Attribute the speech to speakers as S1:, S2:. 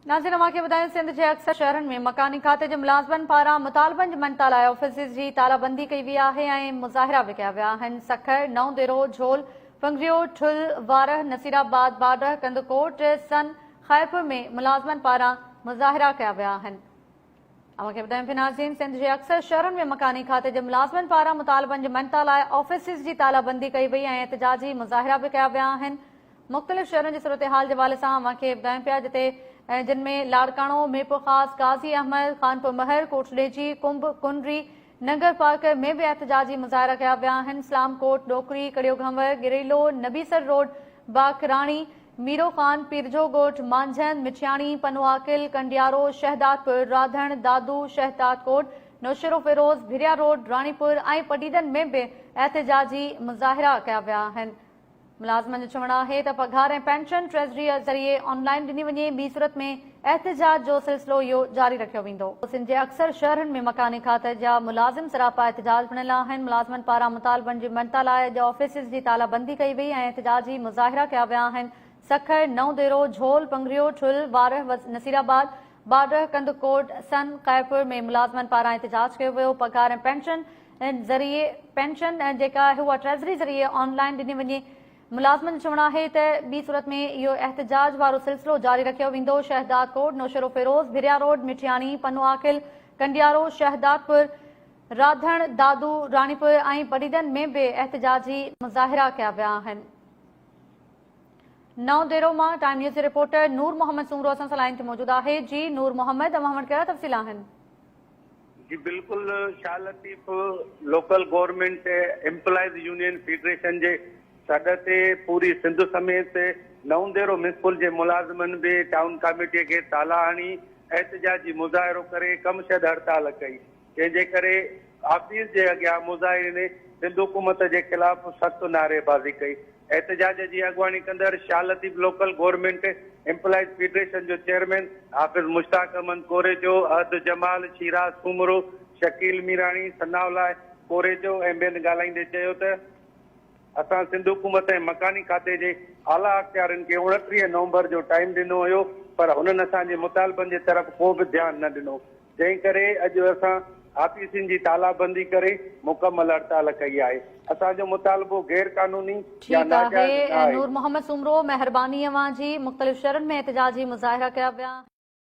S1: ناظرين اوهان کي ٻڌايون سنڌ جي اڪثر شهرن ۾ مڪاني کاتي جي ملازمن پاران مطالبن جي مڃتا لاء آفيسز جي تالا بندي ڪئي وئي آهي ۽ مظاهرا به ڪيا ويا آهن سکر، نئون ديرو، جھول، پنگريو، ٺل، وارهه، نصيرآباد، بارڙهه، ڪنڌڪوٽ، سن، خيرپور ۾ ملازمن پاران مظاهرا ڪيا ويا آهن. اوهان کي ٻڌايون ٿي ناظرين سنڌ جي اڪثر شهرن ۾ مڪاني کاتي جي ملازمن پاران مطالبن جي مڃتا لاء آفيسز جي تالا بندي ڪئي وئي ۽ احتجاجي مظاهرا به ڪيا ويا آهن مختلف شهرن جي صورتحال جي حوالي سان اوهان کي ٻڌايون پيا جتي جن ۾ لاڙڪاڻو ميرپورخاص غازي احمد خانپور مهر ڪوٽڏيجي ڪنب ڪنري ننگر پارڪر ۾ به احتجاجي مظاهرا ڪيا ويا آهن، Islamkot, Dokri, Kario Ghanwar, Garelo, Nabisar road, Bakrani, Miro Khan, Pirjo Goth, Manjhand, Mithiani, Pano Aqil, Kandiaro, Shahdadpur, Radhan, Dadu, Shahdadkot, Naushahro Feroze, Bhiria road, Ranipur ۽ پڊيدن ۾ به احتجاجي مظاهرا ڪيا ويا آهن. ملازمن جو چوڻ آهي ته پگهار ۽ پينشن ٽريزريء ذريعي آن لائين ڏني وڃي، ٻي صورت ۾ احتجاج جو سلسلو اهو جاري رکيو ويندو. سنڌ جي اڪثر شهرن ۾ مڪاني کاتي جا ملازم سراپا احتجاج بڻيل آهن، ملازمن پاران مطالبن جي مڃتا لاء اڄ آفيسز جي تالا بندي ڪئي وئي ۽ احتجاجي مظاهرا ڪيا ويا آهن، سکر، نئون ديرو، جهول، پنگريو، ٺل، وارهه، نصيرآباد، بارڙهه، ڪنڌڪوٽ، سن، قيرپور ۾ ملازمن پاران احتجاج ڪيو ويو، پگهار ۽ پينشن ذريعي پينشن جيڪا آهي اها ٽريزري ذريعي آن لائين ڏني وڃي ملازمن جو چوڻ آهي ته ٻي صورت ۾ اهو احتجاج وارو سلسلو جاري رکيو ويندو شهدادڪوٽ نوشهروفيروز ڀريا روڊ مٺياڻي پنوعاقل ڪنڊيارو شهدادپور راڌڻ دادو راڻيپور ۽ پريدن ۾ به احتجاجي مظاهرا ڪيا ويا آهن نو ديرو مان ٽائيم نيوز جي رپورٽر نور محمد سومرو اسان سان لائن تي موجود آهي جي نور محمد اوهان وٽ ڪهڙا تفصيل آهن جي
S2: بلڪل Shah Latif local government employees union federation جي سڏ تي پوري سنڌ سميت نونديرو ميونسپل جي ملازمن به ٽائون ڪاميٽي کي تالا هڻي احتجاجي مظاهرو ڪري ڪم شد هڙتال ڪئي جنهن جي ڪري آفيس جي اڳيان مظاهرين سنڌ حڪومت جي خلاف سخت نعري بازي ڪئي احتجاج جي اڳواڻي ڪندڙ Shah Latif local government employees federation جو چيئرمين حافظ مشتاق احمد ڪوريجو، احد جمال، شيراز سومرو، شڪيل ميراڻي، ثناء الله ڪوريجو ۽ ٻين ڳالهائيندي چيو ته اسان سنڌ حڪومت ۽ مڪاني کاتي جي اعليٰ اختيارين کي اڻٽيهه نومبر جو ٽائيم ڏنو هيو پر هنن اسان جي مطالبن جي طرف ڪو به ڌيان نه ڏنو جنهن ڪري اڄ اسان آفيسن جي تالابندي ڪري مڪمل هڙتال ڪئي آهي، اسان جو مطالبو غير قانوني يا ناجائز نه آهي. ٺيڪ آهي نور
S1: محمد سومرو
S2: مهرباني
S1: اوهان جي مختلف شھرن ۾ احتجاجي مظاهرا ڪيا ويا.